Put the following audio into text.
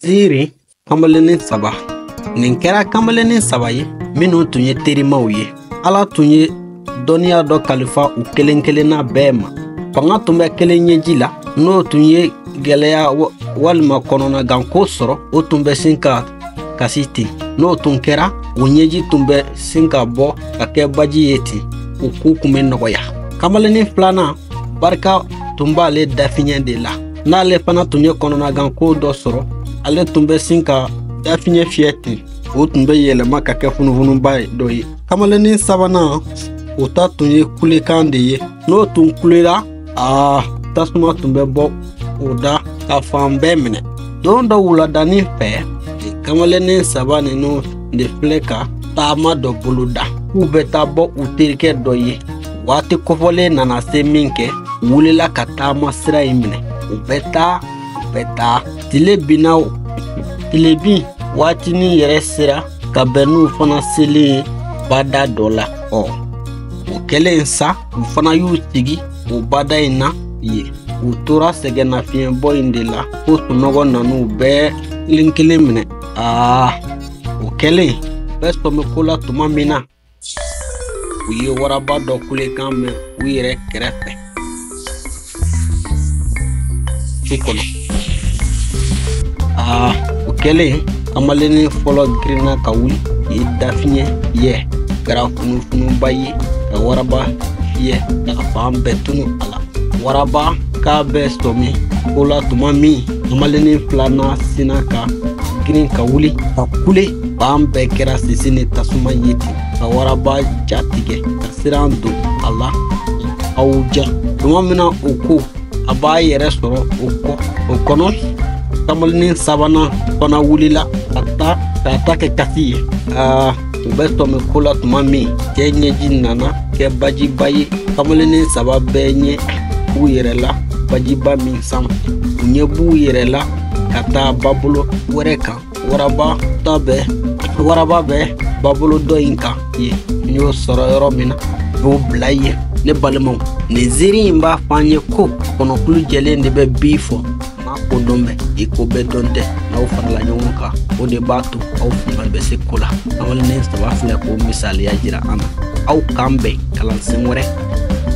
Ziiri kamalennin saba nin kɛra kamalennin saba ye minnu tun ye terimaw ye ala tun ye dɔnniya dɔ kalifa u kelen kelenna bɛɛ ma fanga tun bɛ kelen ɲɛji la n'o tun ye gɛlɛya walima kɔnɔnaganko sɔrɔ o tun bɛ sin ka kasi ten n'o tun kɛra o ɲɛji tun bɛ sin ka bɔ ka kɛ baji ye ten u ko tun bɛ nɔgɔya kamalennin filanan barika tun b'ale dafiɲɛ de la n'ale fana tun ye kɔnɔnaganko dɔ sɔrɔ ale tun bɛ sin ka dafiɲɛ fiyɛ ten o tun bɛ yɛlɛma ka kɛ funufunuba dɔ ye kamalennin sabanan o ta tun ye kulekan de ye n'o tun kulela aa tasuma tun bɛ bɔ o da ka fan bɛɛ minɛ don dɔ wuladanin fɛ kamalennin saba ninnu de filɛ ka taama dɔ boloda k'u bɛ taa bɔ u terikɛ dɔ ye waati kofɔlen nana se min kɛ u wulila ka taama sira in minɛ u bɛ taa u bɛ taa tile binna o tile bin waatinin yɛrɛ sera ka bɛn n'u fana selen ye bada dɔ la ɔ o kɛlen sa u fana y'u sigi o bada in na yen u tora sɛgɛnnafiɲɛbɔ in de la fo sunɔgɔ nan'u bɛɛ kelen kelen minɛ aa o kɛlen u bɛ sɔmi ko la tuma min na u ye waraba dɔ kulekan mɛn u yɛrɛ kɛrɛfɛ su kɔnɔ aa o kɛlen kamalennin fɔlɔ girinna ka wuli ye dafiɲɛ fiyɛ kɛra funufunuba ye ka waraba fiyɛ ka fan bɛɛ tunu a la waraba k'a bɛ sɔmi ko la tuma min Malenin filanan sinna ka girin ka wuli ka kule fan bɛɛ kɛra sisi ni tasuma ye ten ka waraba ja tigɛ ka siran don a la aw ja tuma min na o ko a b'a yɛrɛ sɔrɔ o kɔnɔ kamalennin sabanan fana wulila k'a ta kɛ kasi ye aa u bɛ sɔmi ko la tuma min cɛ ɲɛji nana kɛ bajiba ye kamalennin saba bɛɛ ɲɛ b'u yɛrɛ la bajiba min sanfɛ u ɲɛ b'u yɛrɛ la ka taa babolo wɛrɛ kan waraba bɛ babolo dɔ in kan yen n y'o sɔrɔ yɔrɔ min na n y'o bila yen ne balimaw nin ziiri in b'a fɔ an ye ko kɔnɔkulu jɛlen de bɛ bi fɔ maa ko dɔn bɛ i ko bɛɛ dɔn tɛ n'aw farala ɲɔgɔn kan o de b'a to aw fanga bɛ se ko la kamalennin saba filɛ k'o misaliya jira an na aw k'an bɛn kalansen wɛrɛ